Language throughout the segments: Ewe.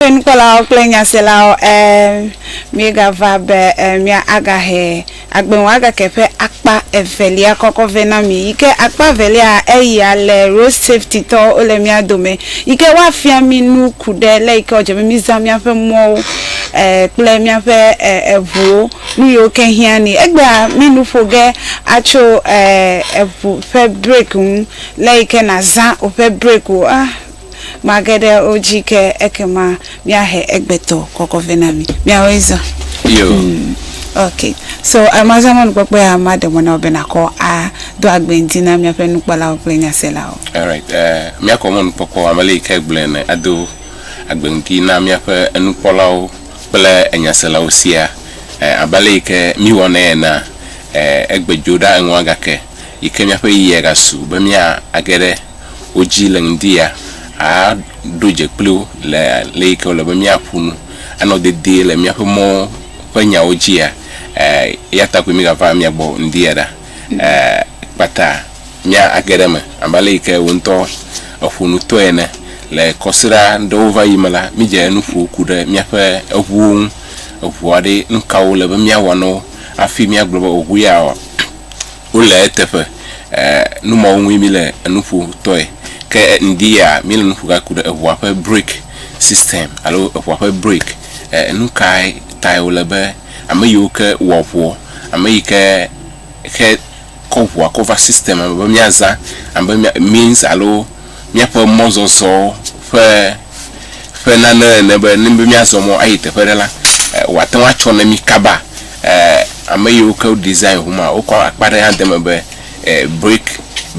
Eye nukpɔlawo kple nyaselawo ɛ miegava be ɛ mia aga hɛ agbe ŋu aga ke ƒe akpa evelia kɔkɔ vɛ na mi yike akpa evelia eyia le road safety tɔwo wole mia dome yike woa fia mi nu kuɖe le yike wodze be mi zã miaƒe mɔwo ɛ kple miaƒe ɛ eʋuwo nuyiwo ke hiã ni egbea mi nu ƒo ge atso ɛ eʋu ƒe break ŋu le yike na zã woƒe break wo ah. Mage ɖe wo dzi ke ekema míahe egbetɔ kɔkɔ vɛ na mi. Míawoe zã. Yo. Ok. So mazã mɔnukpɔkpɔ ya maɖe mɔ na wò be nàkɔ ado agbe ŋdi na míaƒe nukpɔlawo kple nyaselawo. Alright. Míakɔ mɔnukpɔkpɔ abe le yi ke egblɔe ene ado agbe ŋdi na míaƒe enukpɔlawo kple enyaselawo sia. Abe le yi ke míwɔnɛ enea, egbe dzo ɖa eŋua gake yi ke míaƒe ɣeyiɣia gasu be míage ɖe. wo dzi le ŋdi ya, aa ɖo dze kpli wo le le yi ke wòle be mía ƒo nu, anɔ dedie le míaƒe mɔwo ƒe nyawo dzi ya. Ɛɛ, eya ta koe mí gava mia gbɔ ŋdi ya ɖa, ɛɛ, kpata mía a ge ɖe eme. Abe ale yi ke wò ŋutɔ èƒo nu tɔe ene, le kɔsiɖa ɖewo va yi me la, mí dze nu ƒo ku ɖe míaƒe eŋuwo ŋu. Eŋua ɖe, nukawo wòle be mía wɔ na wo hafi mía gblɔ be eŋu ya wɔ? wole eteƒe. Nu mawo ŋue mí le enu ƒo tɔe. Ke ŋdi ya mí le nu ƒo ga ku ɖe eŋua ƒe break system alo eŋua ƒe break. Enu kae tae wòle be ame yiwo ke wɔa ŋua, ame yi ke xe kɔ ŋua kɔ va system me be mía zã abe mía means alo míaƒe mɔzɔzɔ ƒe ƒe nane ene be ne be míazɔ mɔ ayi teƒe aɖe la, wòate ŋu atsɔ na mí kaba. Ame yiwo ke design ŋu ma, wokɔ akpa ɖe hã de eme be break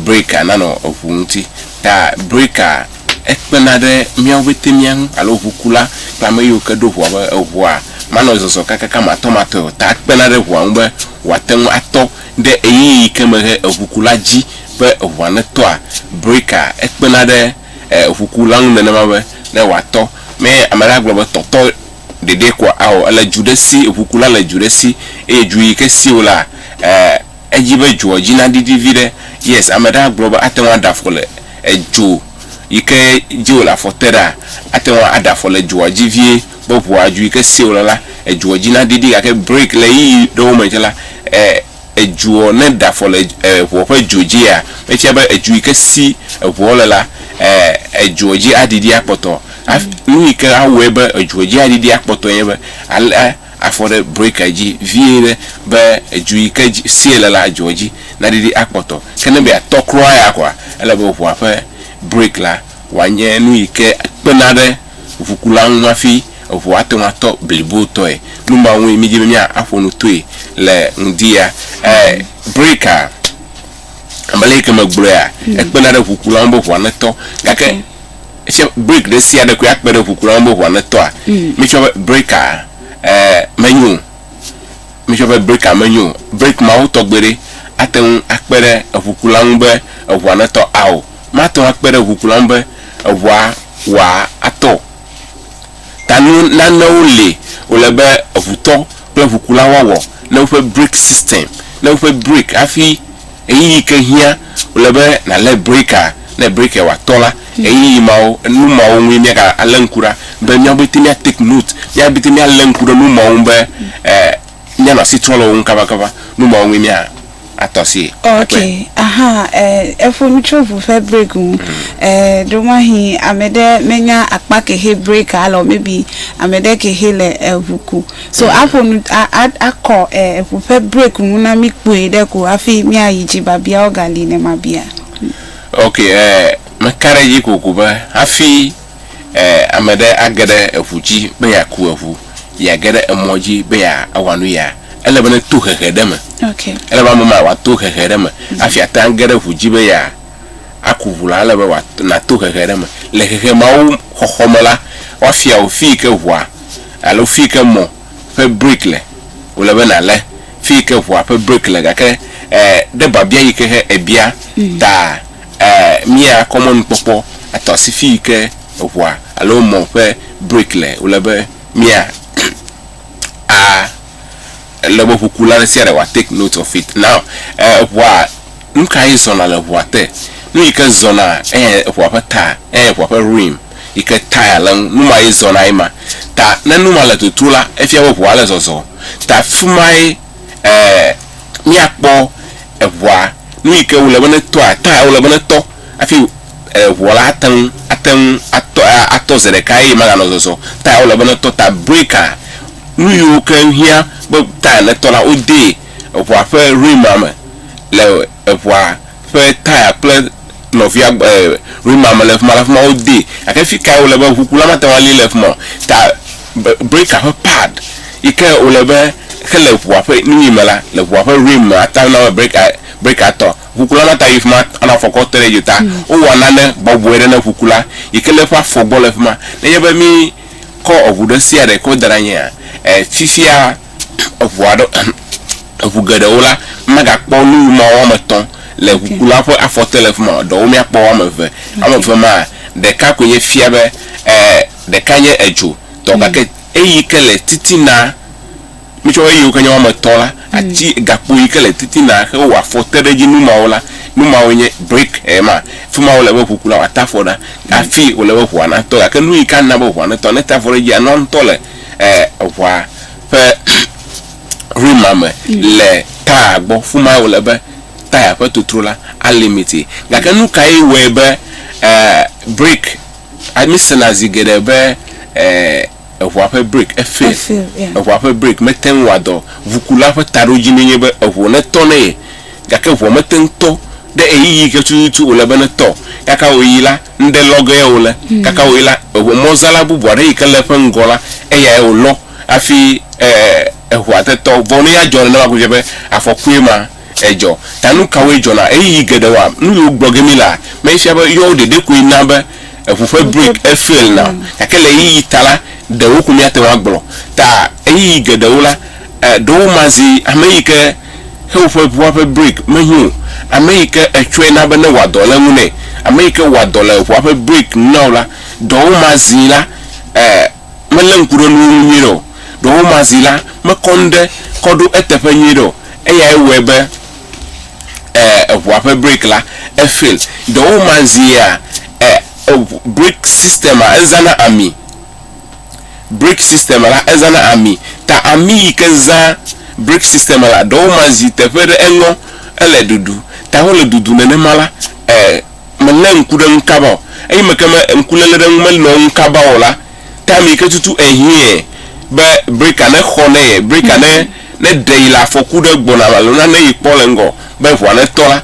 break nanɔ eŋu ŋuti. Ta breka ekpena ɖe míawo pɛte mía ŋu alo ŋukula kple ame yiwo ke ɖo ŋua be eŋua manɔ zɔzɔ kakaka matɔmatɔe o. Ta ekpena ɖe ŋua ŋu be wòate ŋu atɔ. Ɖe ɣeyiɣi yi ke mehe eŋukula dzi be eŋua netɔa breka ekpena ɖe eŋukula ŋu nenema be ne wòatɔ mee? Ame aɖe agblɔ be, Tɔtɔ ɖeɖee ko ao, èle dzu ɖe si, eŋukula le dzu ɖe si eye dzu yi ke si wòlea, edzi be dzoa dzi naɖiɖi vi ɖe. Yes, ame aɖe agblɔ be ate ŋu aɖe afɔ le edzo yi ke dzi wòle afɔ te ɖaa, ate ŋu aɖe afɔ le dzoa dzi vie. Be ʋua dzu yi ke se wòle la, edzuɔ dzi na didi gake break le ɣeyiɣi ɖewo me tsɛ la, e, edzuɔ, ne da afɔ le e, ʋua ƒe dzo dzia, efia be edzu yi ke si eʋuɔ le la, e, edzuɔ dzi adidi akpɔtɔ. Haf, nu yi ke awɔe be edzuɔ dzi adidi akpɔtɔ enye be alé afɔ ɖe breakia dzi vie ɖe be edzu yi ke dzi, sie le la, edzuɔ dzi nadidi akpɔtɔ. Ke ne be yeatɔ kura ya kɔa, ele be ʋua ƒe break la wòanye nu yi ke kpena ɖe ʋukula ŋu hafi eŋu ate ŋu atɔ blibotɔe. Nu ma ŋue mídi be míaƒo nu toe le ŋdi ya. Breakaa, abe ale yi ke megblɔea, ekpena ɖe ʋukula ŋu be ŋua netɔ. Gake tsɛ, break ɖe sia ɖe koe akpe ɖe ʋukula ŋu be ŋua netɔa? Míetsɔ be breakaa menyo o. Míetsɔ be breakaa menyo o. Break mawo tɔgbe ɖe ate ŋu akpe ɖe eŋukula ŋu be eŋua netɔ ao? mate ŋu akpe ɖe ʋukula ŋu be eʋua wòatɔ o. Ta nu nanewo li wòle be eʋutɔ kple ʋukula woawɔ ne woƒe brake system, ne woƒe brake hafi ɣeyiɣi ke hiã wòle be nàlé brakea, ne brakea wòatɔ la, ɣeyiɣi mawo, nu mawo ŋue míagalé ŋku ɖa be míawo pɛte míatake note, míawo pɛte míalé ŋku ɖe nu mawo ŋu be e. Mía nɔ asi trɔ le wo ŋu kaba kaba, nu mawo ŋue mía a tɔ asie. Ok, aha, eh, e ƒo nu tso ʋu ƒe break ŋu. Eh, ɖo mahi ame ɖe me nya akpa kehe break a le o, maybe ame ɖe kehe le eŋu ku. So a ƒo nu, a, a, a kɔ eh, ʋu ƒe break ŋu na mi kpui ɖe ko hafi mía yi dzi babiawo ga li ne ma bia. Ok, eh, me ka ɖe edzi kokoko be hafi. Ame ɖe age ɖe eŋu dzi be yeaku eŋu, yeage ɖe emɔ dzi be yeawɔ nu ya, ele be neto hehe ɖe eme. Ele be ame ma wòato hehe ɖe eme hafi ate ŋu age ɖe eŋu dzi be yeaku ŋu la, ele be wòato, nàto hehe ɖe eme. Le hehe mawo xɔxɔ me la, woafia wò fi yi ke ŋua alo fi yi ke mɔ ƒe break le. Wòle be nàlé fi yi ke ŋua ƒe break le gake ɖe biabia yi ke he èbia taa. Ee, mía kɔmɔnukpɔkpɔ atɔ asi fii ke eŋua alo mɔ ƒe brake le. Wòle be mía a le be ŋukula ɖe sia ɖe wòa take note of it. Now, ee, eŋua, nu ka ye zɔna le eŋua te? Nu yi ke zɔna eye eŋua ƒe ta eye eŋua ƒe rim yi ke tire le eŋu, nu ma ye zɔna ye ma. Ta ne nu ma le toto la, efia be eŋua le zɔzɔ. Ta fi mae. ɛɛ, míakpɔ eŋua, nu yi ke wòle be ne tɔa, time wòle be ne tɔ hafi eŋua la ate ŋu, ate ŋu atɔ, atɔ zi ɖeka eye maganɔ zɔzɔ, time wòle be ne tɔ ta breaker, nu yiwo ke hiã be time netɔ la, wodee eŋua ƒe rim ma me le. eŋua ƒe taya kple nɔvia rima me le fima la fima wo de gake fi kae wole be ʋukula ma te ŋu ali le fima ta breka ƒe pad yi ke wole be xe le ʋua ƒe nu yi me la le ʋua ƒe rim me ata na breka breka tɔ ʋukula ma ta yi fima ana afɔkɔ te ɖe dzi ta wo wɔ nane bɔbɔe ɖe ne ʋukula yi ke le eƒe afɔ gbɔ le fima ne nye be mi kɔ eʋu ɖe sia ɖe kɔ da ɖe anyi fifia eŋu aɖe, eŋu geɖewo la, mímagakpɔ nu wu ma woame etɔ̃ le ŋukula ƒe afɔte le fi ma o. Ɖewo míakpɔ woame eve. Woame eve maa, ɖeka koe nye fia be ɛɛ ɖeka nye edzo tɔ gake eyi ke le titina, mitsɔ be eyiwo ke nye woame etɔ̃ la, ati gakpo yi ke le titina xe wɔ afɔte ɖe edzi nu mawo la, nu mawoe nye briki ye ma. Fi ma wòle be ŋukula wòate afɔ ɖa hafi wòle be ŋua natɔ. Gake nu yi ke ana be ŋua netɔ, ne ete afɔ ɖe edzia, nua ŋutɔ le. eh, eʋɔa ƒe rima me le taya gbɔ fuma wòle be taya ƒe totro la alimiti gake nu kae wɔe be eh, break amisena zi geɖe be eh, eʋɔa ƒe break efe efe eʋɔa ƒe break mete ŋu wɔ dɔ ʋukula ƒe taɖodzi ne nye be eʋu ne tɔ ne ye gake ʋua mete ŋu tɔ ɖe eyiyi ke tututu wòle be ne tɔ gake wòyi la ŋɖe lɔ ge o le kaka wòyi la, eŋu mɔzala bubu aɖe yi ke le eƒe ŋgɔ la, eyae wòlɔ hafi e, eŋua tetɔ. Vɔ ne ya dzɔ nenema ko fia be afɔkue ma edzɔ. Ta nu kawoe dzɔna? Ɣeyiɣi geɖe wɔ nu yiwo gblɔ ge mí lea, mefia be yɔwo ɖeɖe koe na be eŋu ƒe break efail na o. Gake le ɣeyiɣi ta la, ɖewo ko míate ŋu agblɔ. Ta ɣeyiɣi geɖewo la, e, ɖewo mazi ame yi ke he woƒe ʋua ƒe brake mehiã o. Ame yi ke ètsɔe na be ne wòa dɔ le eŋu nɛ, ame yi ke wɔa dɔ le eʋua ƒe brake ŋu na wò la, ɖewo ma zi la, e melé ŋku ɖe nuwo ŋu nyuiɖe o. Ɖewo ma zi la, mekɔ nu ɖe kɔ ɖo eteƒe nyuiɖe o. Eyae wɔe be e eʋua ƒe brake la e fail. Ɖewo ma zia e eŋu brake system-a ezãna ami. Brick system la ezãna ami ta ami yi ke zã brick system la ɖewo ma zi teƒe ɖe eŋɔ ele ɖuɖu ta wole ɖuɖu nenema la e me le ŋku ɖe ŋu kaba o eyi me ke me ŋku le le ɖe ŋu me nɔ ŋu kaba o la ta ami yi ke tutu ehiɛ be bricka ne xɔ ne yɛ bricka ne ne ɖe yi le afɔku ɖe gbɔna alo nane yi kpɔ le ŋgɔ be ŋua ne tɔ la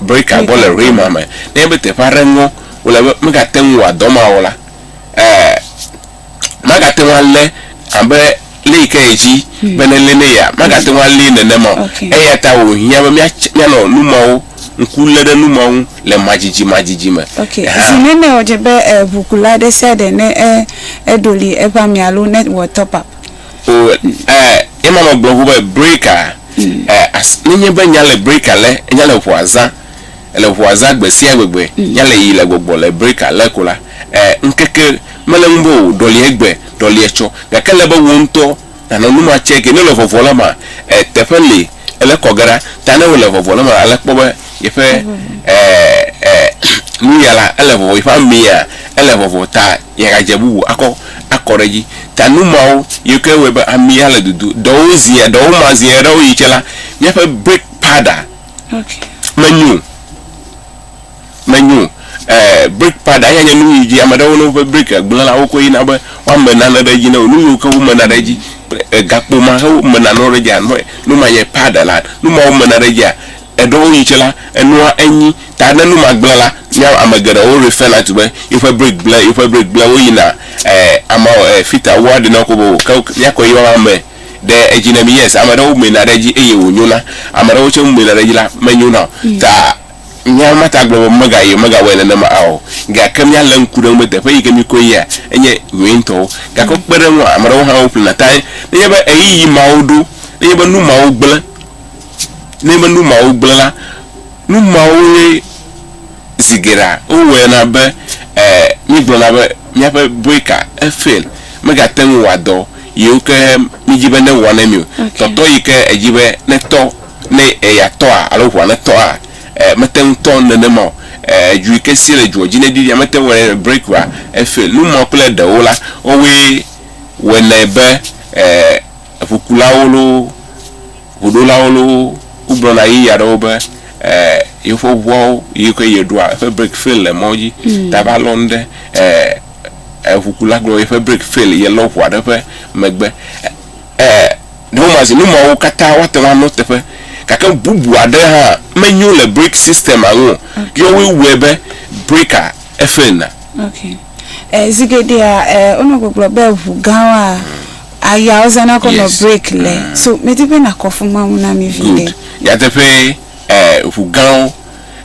brika gbɔ le ʋee ma me, nenye be teƒe aɖe ŋɔ wòle be megate ŋu wòawɔ dɔ ma o la, ɛɛ magate ŋu alé abe lé yi ke ye dzi hmm. be nelé ne ya, magate ŋu alé nenema o. Eya ta wòhiã be míanɔ nu mawo ŋku lé ɖe nu mawo ŋu le madzidzi madzidzi me. Zi nene wòdze be eh, ʋukula ɖe sia ɖe ne eh, eɖoli eƒe ami alo ne wòwɔ top up? O ɛ yema nɔ gblɔ ŋu be breka ɛ as nenye be nya le breka le nya le ŋua zã le ŋua zã gbesia gbegbe nya le yi le gbɔgbɔ le breka le ko la ɛ ŋkeke mele ŋu be o ɖɔli egbe ɖɔli etsɔ gake le be wo ŋtɔ nanɔ nu ma tsɛke nele vɔvɔ le ma ɛ teƒe li ele kɔ ge ɖa ta ne wole vɔvɔ le ma ale kpɔ be yeƒe ɛ ɛ nuya la ele vɔvɔ yeƒe amia ele vɔvɔ ta. yeagadze bubu akɔ akɔ ɖe edzi. Ta nu mawo yiwo ke wɔe be ami ale dudu ɖewo zi ɖewo ma zi ɖewo yi tsɛ la, míaƒe break paɖa menyo o. Menyo o. E break paɖa ya nye nu yi dzi ame aɖewo ne woƒe break gblẽ la wokɔe yina be woame nane ɖe edzi ne wo. Nu yiwo ke womena ɖe edzi kple gakpo ma he womena nanewo ɖe edzia nu ma nye paɖa la. Nu mawo mena ɖe edzia. Eɖɔ wo yi tse la, enua enyi, ta ne nu ma gblẽ la, mía ame geɖewo refɛna tu be yewoƒe break gblẽ, yewoƒe break gblẽ, woyina e ama e fita wua ɖe na wo kobo ke mía kpɔe yɔ la me ɖe edzi ne mi. Yes, ame ɖewo mena ɖe edzi eye wo nyona, ame ɖewo tse mena ɖe edzi la me nyona o. Ta mía ma ta gblɔ be mega yi mega wɔe nenema a o. Gake mía le ŋku ɖe ŋu be teƒe yike mi koe yia enye nyuie ŋutɔwo. Gake kpe ɖe eŋua, ame ɖewo hã wo ƒlena tae ne nye be ɣeyiɣi mawo ɖo, ne nye be nu mawo gblẽ. ne menu mawo gblẽ la, nu mawo ye zi geɖea wowɔe na be e míegblɔna be míaƒe breaker efail, megate ŋu wɔa dɔ yiwo ke míedi be newɔ ne mí o. Tɔtɔ yi ke edzi be netɔ ne yeatɔa alo ŋua netɔa e mete ŋu tɔ nenema o. E dzo yi ke si le dzoa dzi neɖiɖia mete ŋu wɔnɛ ne breakera efail. Nu mawo kple ɖewo la, wowoe wɔnɛ be e. eŋukulawo loo, ŋuɖolawo loo, wogblɔ na ɣeyiɣi aɖewo be yewoƒe ŋuawo yi ke yeɖoa eƒe breki fel le mɔ dzi mm. ta va lɔ nu ɖe eŋukula gblɔ be eƒe breki fel yelɔ ŋu aɖe ƒe megbe. Ne womazi nu mawo katã woate ŋu anɔ teƒe gake bubu aɖe hã menyo le breki sistema ŋu o. Okay. Yɔwoe wɔe be breka efel na. Okay. Eh, zigeɖea eh, wonɔ gbɔgblɔ be ŋu gãwoa Aya wozana kɔ nɔ break le. Mm. So medi be nakɔfu Mawu na mi vi ɖe. Nyateƒee, eh, ʋu gãwo.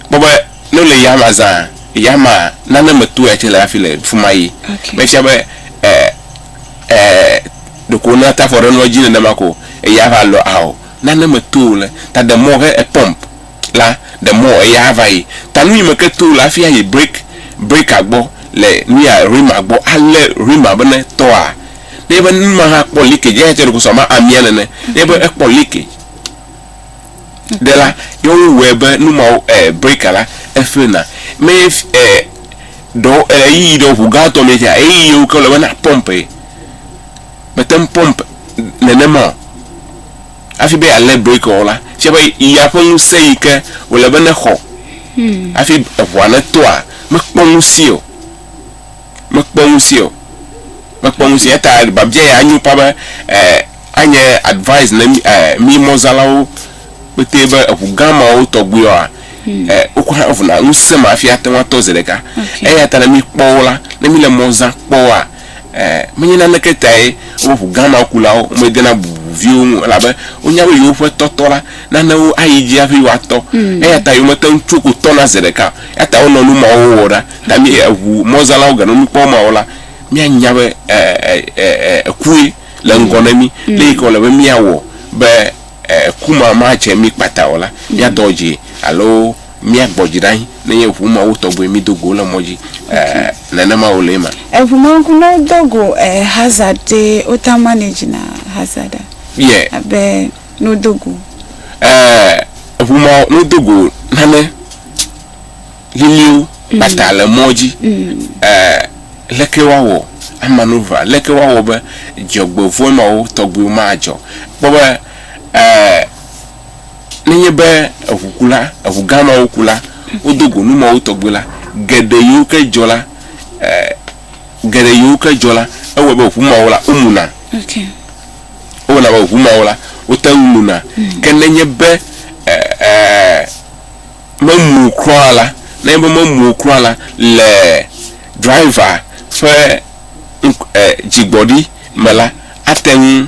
Kpɔ be ne wole yama zã, yama nane me toea tse le hafi le fima yi. Okay. Mefia be eh, eh, ɖeko wona tafɔ ɖe nua dzi nenema ko eya va lɔ ao. Nane me to le ta de mɔ he e pump. la, the more eya ava yi. Ta nu yi me ke to le hafi ayi break, breaker gbɔ le nuya rhema gbɔ alé rhema be ne tɔa, ne nye be nu ma hã kpɔ leakage eya tse ɖokoso abe amia nene, ne nye be ekpɔ leakage ɖe la, ye wo wɔe be nu ma wo eh breaker la efail na. Me eh ɖewo eh ɣeyiɣi ɖewo ʋu gã tɔ me tse ɣeyiɣi yi wo ke le be na pump ye. Me te ŋu pump nene ma o. Hafi be alé breki o la, tsia be ya ƒe ŋusẽ yi ke wòle be nexɔ hafi eŋua netɔa, mekpɔ ŋusẽe o. Mekpɔ ŋusẽe o. Mekpɔ ŋusẽe o. Eya ta biabia ya anyo ƒã be anye advise na mí mí mɔzalawo kpetɛ be eŋu gã mawo tɔgbuiwoa, wokɔ hã vuna ŋusẽ ma hafi ate ŋu atɔ zi ɖeka. Eya ta ne míkpɔ wo la, ne míle mɔ zãm kpɔ woa, Ẽ, menye naneke tae woƒe ʋu gã mawo kulawo medena bubu viwo ŋu o, elabe wonya be yewoƒe tɔtɔ la nana wo ayi edzi hafi woatɔ. Eya ta yewomete ŋu tso ko tɔna zi ɖeka o. Eya ta wonɔ nu mawo wɔwɔ ɖa. Ta mí eʋu mɔzãlawo ganɔ nu kpɔm mawo la, míanya be, ẽ, ẽ, ẽ, ẽ, ekue le ŋgɔ na mí. Nu ka wòle be míawɔ be eku ma madze mí kpata o la, míadɔ dzi alo míagbɔ dzi ɖe anyi nenye ŋu mawo tɔgbe mído go le mɔ dzi nenema wòle ema. Eŋu ma ŋku ne wodo go Hazard ye wota manage na Hazard a? Yɛ. Abe ne wodo go. Eŋu ma ne wodo go nane. liliwo kpata le mɔ dzi. Ɛɛ, leke woawɔ amanuvra? Leke woawɔ be dzɔgbevɔ̃e mawo tɔgbiwo madzɔ? Kpɔ be, ɛɛ, nenye be eŋukula, eŋu gã mawo ku la, wodo go nu mawo tɔgbi la, geɖe yiwo ke dzɔ la, ɛɛ, geɖe yiwo ke dzɔ la, ewɔe be ŋu mawo la, womuna. Okay. Ewɔna be ŋu mawo la, wote ŋu muna. Ke nenye be, ɛɛ, ɛɛ, memu o kura o la, nenye be memu o kura o la, le driver ƒe ŋk e dzigbɔɖi me la, ate ŋu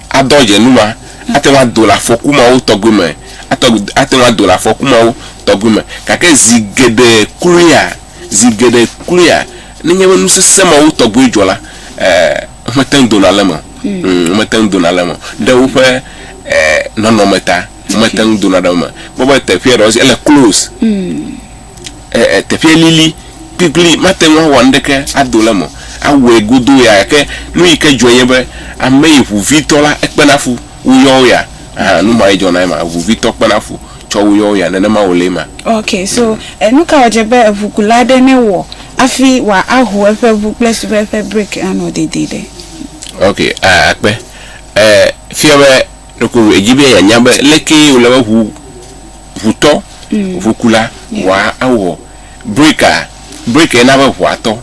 adɔ dze nu ma, ate ŋu ado le afɔku mawo tɔgbi me, ate ŋu ate ŋu ado le afɔku mawo tɔgbi me. Gake zi geɖe kloea, zi geɖe kloea, nenye be nu sesẽ mawo tɔgbi dzɔ la, e womete ŋu dona le eme o. Ŋ mete ŋu dona le eme o ɖe woƒe e nɔnɔme ta. Womete ŋu dona ɖe wo me. Kpɔ be teƒea ɖewo ele close. E, e, teƒea lili kplikpli, mate ŋu awɔ nuɖeke ado ɖe eme. Awɔe godoo ya gake nu yi ke dzɔe nye be ame yi ŋuvitɔ la ekpena fu woyɔ wo ya. Ahan, nu ma ye dzɔna ema. Ŋuvitɔ kpena fu tsɔ woyɔ wo ya. Nenema wòle ema. Ok, so e, nu ka wòdze be eŋukula aɖe newɔ hafi wòa aho eƒe ŋu kple suve eƒe brake anɔ dedie ɖe? Ok, a, akpe. E, fia be. Ɖeko edzi be yeanya be lekee wòle be ʋu, ʋutɔ, ʋukula, ʋua awɔ breka. Brekae na be ʋua tɔ.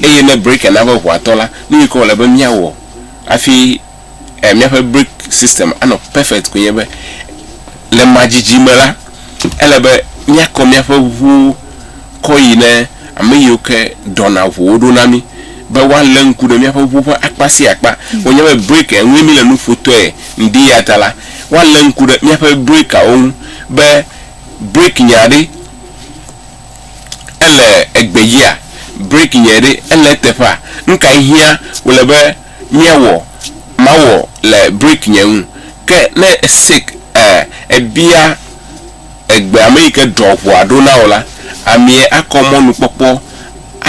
Eye ne breka na be ʋua tɔ la, nu yi ke wòle be míawɔ hafi míaƒe breki system anɔ perfect koe nye be, le madzidzi me la, ele be míakɔ míaƒe ʋuwo. kɔ yi ne ame yiwo ke ɖɔna ʋuwo ɖo na mí be woalé ŋku ɖe míaƒe ʋu ƒe akpa sia akpa. Wonye be break eŋue míle nu ƒo tɔe ŋdi ya ta la, woalé ŋku ɖe míaƒe breakawo ŋu be break nya ɖe ele egbedzia, break nya ɖe ele eteƒea, nu kae hiã wòle be míawɔ mawɔ le break nya ŋu. Ke ne esek e ebia. Egbe ameyike ɖɔ ʋɔa ɖo na wò la, amee akɔ mɔnukpɔkpɔ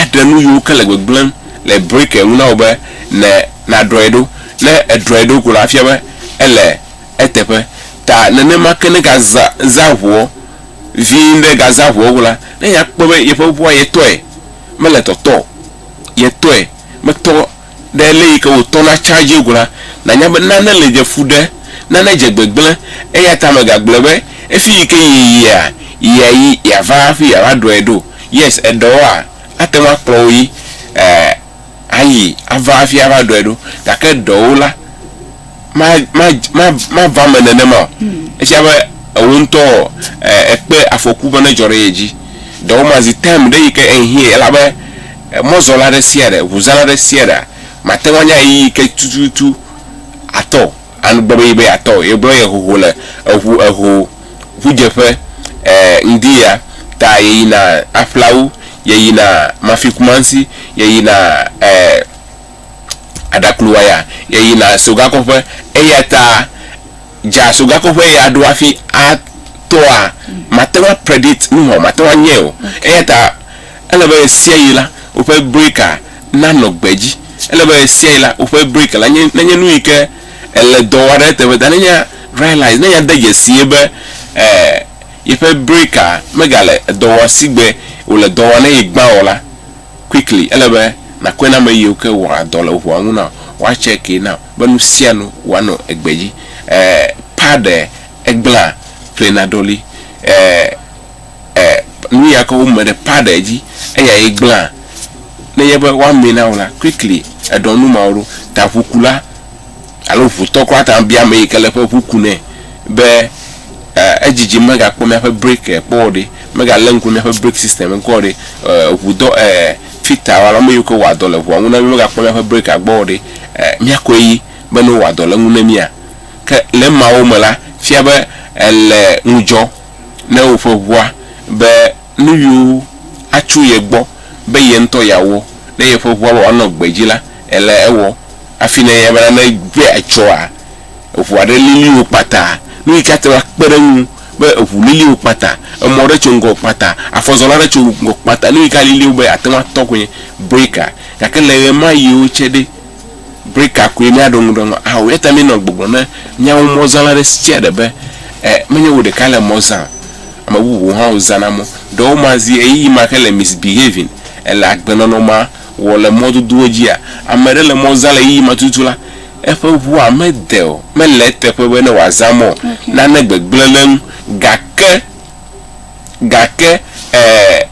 aɖe nu yiwo ke le gbegblẽm le brake ŋu na wò be ne nàɖɔe ɖo. Ne èɖɔe ɖo ko la, efia be ele eteƒe. Ta nenema ke ne gazã zã ʋɔɔ vii ɖe gazã ʋɔɔ ko la, ne akpɔe be yeƒe ʋɔa yetɔe mele tɔtɔ o, yetɔe metɔ. ɖe ele yi ke wòtɔ na charge go la, nànya be nane le dze fu ɖe, nane dze gbegblẽ, eya ta mègagblɔe be, Efi yi ke yeyia, yia yi yeava hafi yeava ɖɔe ɖo. Yes, eɖewoa, ate ŋu akplɔ wò yi ɛɛ ayi ava hafi ava ɖɔe ɖo. Gake eɖewo la, ma, ma, ma, mava eme nenema o. Efia be ewò ŋutɔ ɔ, èkpe afɔku be nedzɔ ɖe ye dzi. Ɖewo ma zi time ɖe yi ke ehiɛ elabe Mɔzɔla ɖe sia ɖe, ŋuzãla ɖe sia ɖea, mate ŋu anya ɣeyiɣi ke tututu atɔ o. Anu gbe be yi be yeatɔ o. Yegblɔ ye hoho le eŋu eho ŋudzeƒe e ŋdi ya ta yeyina aƒlawu, yeyina Mafikumasi, yeyina e Aɖakluwaya, yeyina Sogakɔƒe. Eya ta dza Sogakɔƒe ye aɖo hafi atɔa, mate ŋu a predict nuhɔ, mate ŋu anyae o. Eya ta. Ele be ɣesiaɣi la, woƒe breaka nanɔ gbedzi. Ele be ɣesiaɣi la, woƒe breaka la nenye nu yi ke ele dɔ wɔm ɖe eteƒe ta. Nenye realise, nenye ade dzesie be yeƒe breaka megale dɔ wɔm si gbe wòle dɔ wɔm na ye gbã o la, quickly, ele be nàkɔe na ame yiwo ke wɔa dɔ le ŋua ŋu na wò, woatsɛkee na wò be nusianu wòanɔ gbedzi. Paɖe, Egblẽa, ƒlena ɖoli. nuya ke wome ɖe paa ɖe edzi eya ye gblẽa, nenye be woamee na wò la, quickly eɖɔ nu mawo ɖo. Ta ʋukula alo ʋutɔ kura ate ŋu abia ameyi ke le eƒe ʋu ku nɛ be edzidzim megakpɔ míaƒe break kpɔ o ɖe, megalé ŋku ɖe míaƒe break system ŋu kpɔ o ɖe, ʋudɔ fitter alo ameyiwo ke wɔa dɔ le ʋua ŋu na mí megakpɔ míaƒe break gbɔ o ɖe, míakɔe yi be ne wowɔa dɔ le eŋu na mía. Ke le emawo me la, fia be èle ŋudzɔ. ne woƒe ŋua be nu yiwo atso ye gbɔ be ye ŋutɔ yeawɔ ne yeƒe ŋua be wòanɔ gbedzi la, ele ewɔ hafi ne ye bena ne ŋua etsɔa, eŋu aɖe lili wò kpata, nu yi ke ate ŋu akpe ɖe eŋu be eŋu lili wò kpata, emɔ aɖe tso ŋgɔwò kpata, afɔzɔla aɖe tso ŋgɔwò kpata, nu yi ke alili wò be àte ŋu atɔ koe nye breaker. Gake le ɣemaɣiwo tsɛ ɖe, Brika koe míaɖo ŋu ɖe ŋu ahã o. Eya ta míenɔ gbɔgblɔm na míawo mɔzãla ɖe sia ɖe be, E, menye wò ɖekae le mɔ zãa o. Ame bubuwo hã wozãna mɔ. Ɖewo ma zi ɣeyiɣi ma hele misbehaving, ele agbenɔnɔ ma wɔ le mɔdodowo dzia. Ame ɖe le mɔ zã le ɣeyiɣi ma tututu la, eƒe ŋua mede o. Mele eteƒe be ne wòazã mɔ o. Nane gbegblẽ ɖe eŋu. Gake, gake, e,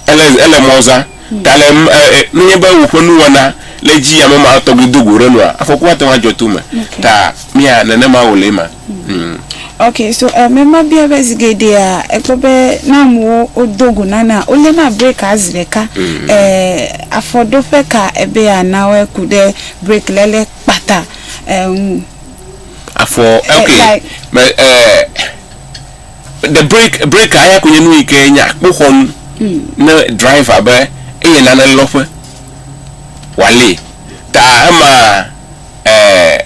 Ele, ele mɔ zã. Ta le, e, e, nenye be woƒe nuwɔna le edzi ame ma tɔgbi do go ɖe nua, afɔku ate ŋu adzɔ to me. Okay. Ta mía nenema wòle ema. Mm. Ok, so eh, me ma bia be zi geɖea ekpɔ be ne amewo wodo go nana wole na break a zi ɖeka. Mm. Eh, afɔɖoƒe ka ebe yeanawɔe ku ɖe break lɛ le kpata eh, ŋu? Afɔ, Eh, ok. like- Me, eh, Ɖe break break a ya koe nye nu yi ke nye akpoxɔnu ne driver be eye nane lɔ ƒe wòalée. Ta ema e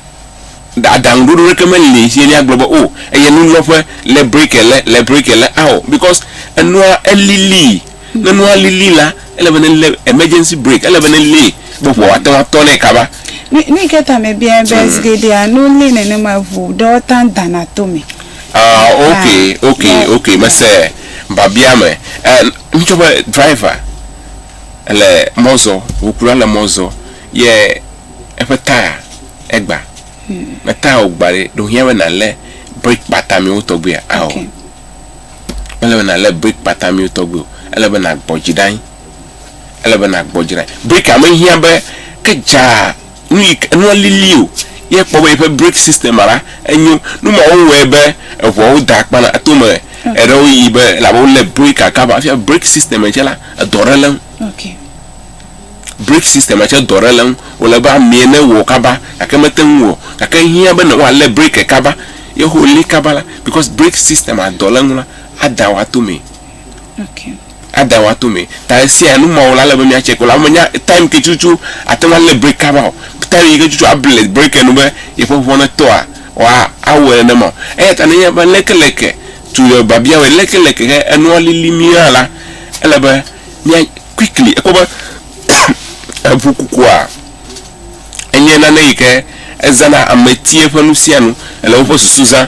aɖaŋuɖoɖo ɖeke meli si míagblɔ be o eye nu lɔ ƒe le break le le break le ao because enua elilii. Ne nua lili la, ele be ne le emergency break, ele be ne li be ŋua woate ŋu atɔ nɛ kaba. Nu nu yi ke ta mebiae be zi geɖea ne woli nenema ŋu ɖewo ta dana to me. Ah, ok, ok, Yeah. ok, mese babia me. Eh, ŋutsɔ be driver le mɔ zɔ, ŋukula le mɔ zɔ ye eƒe taya egba. Ne taya wò gba ɖe, ɖe wòhiã be nàlé break kpata mɛwo tɔgbuia? Ao. Ok. Mele be nàlé brik kpata miwo tɔgbi o. Ele be nàgbɔ dzi ɖe anyi. Ele be nàgbɔ dzi ɖe anyi. Brikia mehiã be ke dzaa nu yi ke nua lili o ye ekpɔ be yeƒe brik sistema la enyo. Nu ma wowɔe be eŋuawo dea akpa na to me eɖewo yi be elabe wolé brikia kaba hafi brik sistema tsɛ la edɔ ɖe le eŋu. Brake system a tsɛ dɔ ɖe le eŋu. Wòle be amee ne wɔ kaba gake mete ŋu o. Gake ehiã be woalé brake kaba. Ye ho lée kaba la, because brake system a dɔ le eŋu la, ada wòa to mee. Ada wòa to mee. Ta esia nu mawo la, ele be mía check wo. Ela be menya time ke tututu ate ŋu alé brake kaba o. Time yi ke tututu able brake nu be yeƒe ŋua netɔa, wa awɔe nenema o. Eya ta ne enye be lekeleke to your babiawoe, lekeleke ke enua lili mia la, ele be. mía quickly ekpɔ be eŋu kukua enye nane yi ke ezãna ametia ƒe nu sia nu, ele woƒe susu zã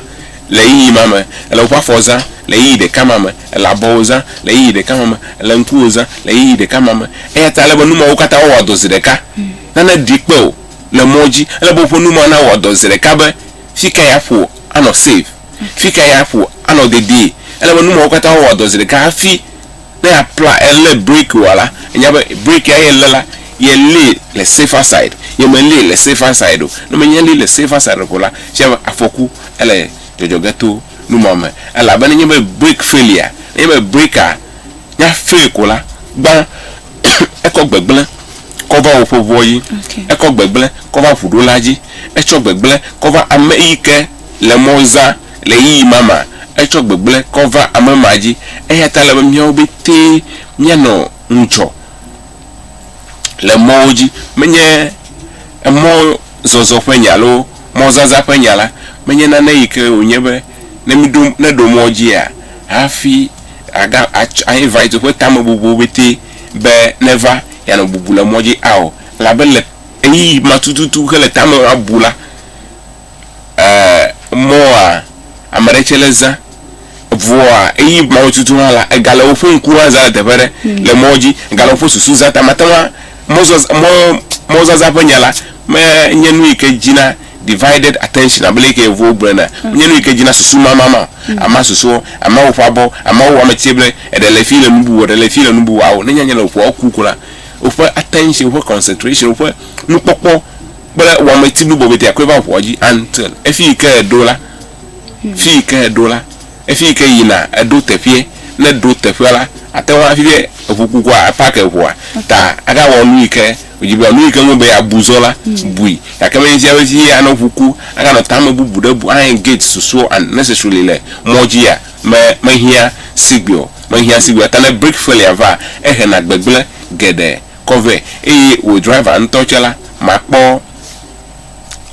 le ɣeyiɣi ma me, ele woƒe afɔ zã le ɣeyiɣi ɖeka ma me, ele abɔwo zã le ɣeyiɣi ɖeka ma me, ele ŋkuwo zã le ɣeyiɣi ɖeka ma me. Eya ta ele be nu mawo katã woawɔ dɔ zi ɖeka. Nane ɖi kpe o le mɔ dzi. Ele be woƒe nu mawo nawɔ dɔ zi ɖeka be fika yeaƒo anɔ safe, fika yeaƒo anɔ dedie. Ele be nu mawo katã woawɔ dɔ zi ɖeka hafi. Ne apla elé break wa la, enya be break ya ye lé la, ye lée le safer side. Ye me lée le safer side o. Ne me lée le safer side o ko la, shame be afɔku ele dzɔdzɔ ge to nu ma me. Elabe ne nye be break failure, ne nye be break a ya fail ko la, gbã ekɔ gbegblẽ kɔ va woƒe ŋua dzi. Ekɔ gbegblẽ kɔ va ŋuɖola dzi. Etsɔ gbegblẽ kɔ va ame yike le mɔ zã. Le ɣeyiɣi ma mea, etsɔ gbegblẽ kɔ va ame ma dzi. Eya ta ele be míawo pɛtɛ míanɔ ŋudzɔ le mɔwo dzi. Menye emɔzɔzɔ ƒe nya alo mɔzazã ƒe nya la menye nane yi ke wònye be ne míɖo, ne ɖo mɔ dzia, hafi aga, atsɔ, a invite woƒe tamebubuwo pɛtɛ be neva yeanɔ bubu le mɔ dzi ao. Elabe le ɣeyiɣi ma tututu hele tame bu la, e mɔa ame ɖe tsɛ le zã vɔa eyi mɔwo tutu hã la ega le woƒe ŋku hã zã le teƒe ɖe hmm. le mɔ dzi ega le woƒe susu zã ta mate ŋu mɔzazã ƒe nya la menye nu yi ke dzina divided attention abele yi ke yevuwo gblẽ na hmm. menye nu yi ke dzina susu mamama hmm. ama susuwo ama woƒe abɔ ama wo ame tse ble eɖe le fi le nu bubu eɖe le fi le nu bubu awo nenye anya le woƒe ku ko la woƒe attention woƒe concentration woƒe nukpɔkpɔ kple wɔmeti nu bɔbɔe tia koe va ʋua dzi until efi yi ke eɖo la fi yi ke eɖo la efi yi ke yina eɖo teƒeɛ ne eɖo teƒeɛ la ate ŋu afi eŋu kukua epak eŋua ta aka wɔ nu yi ke wòdzi be nu yi ke ŋu be abu zɔ la bui gake menye sia be fi anɔ ŋu ku aka nɔ tame bubu ɖe bu a engage susuɔ unnecessarily le mɔ dzi ya me mehiã sigbe o mehiã sigbe o ta ne break failure va ehena gbegblẽ geɖe kɔ vɛ eye wò driver ŋutɔ tsɛ la, makpɔ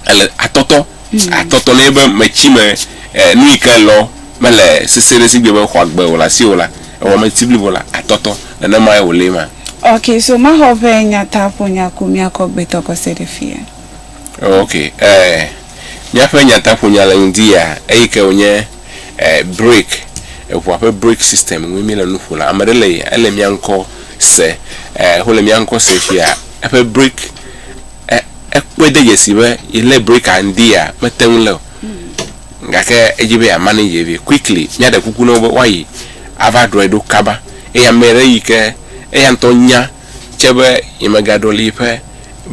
ele atɔtɔ atɔtɔ nɛ be metsi me e nu yi ke elɔ mele sese ɖe sigbe be xɔa gbe o le asiwò la, ewɔ meti blibo la atɔtɔ. Nenemae wòle ema. Ok, so maxɔ ƒe nyataƒonya ku míakɔ gbetɔ kɔse ɖe fiye. Ok, e míaƒe nyataƒonya le ŋdi ya eyi ke wònye. break, eŋua ƒe break system ŋue mí le nu ƒo le. Ame ɖe le ele mía ŋkɔ se, wo le mía ŋkɔ se fia eƒe break ekpɔe de dzesi be ye le break a ŋdi ya me te ŋu le o. Gake edzi be ya manage vi quickly. Mía ɖe kuku na wo be woa yi ava ɖɔe ɖo kaba. Eye ame ɖe yi ke eya ŋutɔ nya. tsɛ be yemegaɖɔli yeƒe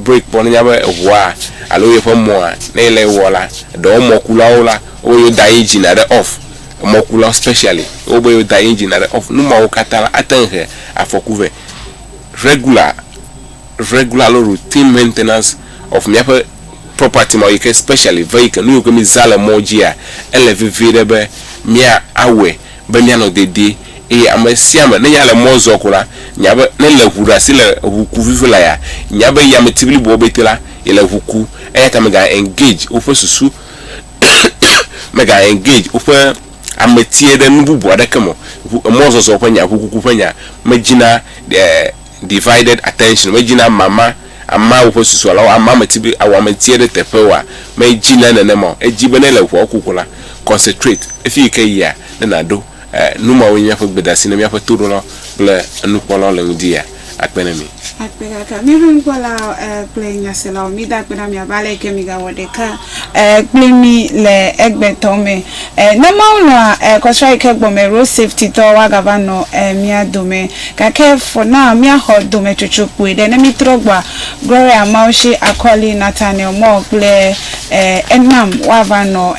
breki kpɔ nenya be eŋua alo yeƒe mɔa ne yele ewɔ la ɖewo mɔkulawo la wobe yewoda inginia ɖe off emɔkulawo specially wobe yewoda inginia ɖe off numawo katã la ate ŋu he afɔku vɛ regular regular alo routine maintenance of míaƒe property ma yike specially vehicle nu yiwo ke mizã le mɔ dzia ele vevie ɖe be mía awɔe be míanɔ dedie, eye ame sia ame, ne yale mɔ zɔ ko la, nya be, ne le ŋu ɖe asi le ŋu ku vivi la ya, nya be yameti bliboa bete la, yele ŋu ku. Eya ta mega engage woƒe susu, mega engage woƒe ametie ɖe nu bubu aɖeke me o. Ŋu, emɔzɔzɔ ƒe nya, ŋukuku ƒe nya, medzina, eh, divided attention, medzina mama, ama woƒe susu alo ama ame ti be awɔ ame ti ɖe teƒe oa? Medzina nenema o. Edi be ne le ʋɔa ku ko la, concentrate efi yi ke yia ne naɖo. E, nu mawo nye míaƒe gbedasi ne míaƒe toɖolawo kple enukpɔlawo le ŋudia? Akpe ɖe mi. Akpe gake míaƒe nukpɔlawo kple nyaselawo, mida akpe ɖe mi abe ale yi ke migawɔ ɖeka kpli mí le egbetɔ me. Ne Mawu lɔ̃a kɔsra yi ke gbɔme road safety tɔ woagava nɔ mía dome. Gake for now míaxɔ dometsotso kpui ɖe. Ne mítrɔ gbɔa, Gloria Mawu shi akɔli Nathaniel Moore kple enam woava nɔ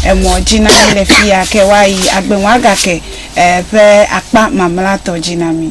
emɔ dzi na mí le fiya ke woayi agbe ŋu agake ƒe akpa mamlɛatɔ dzi na mí.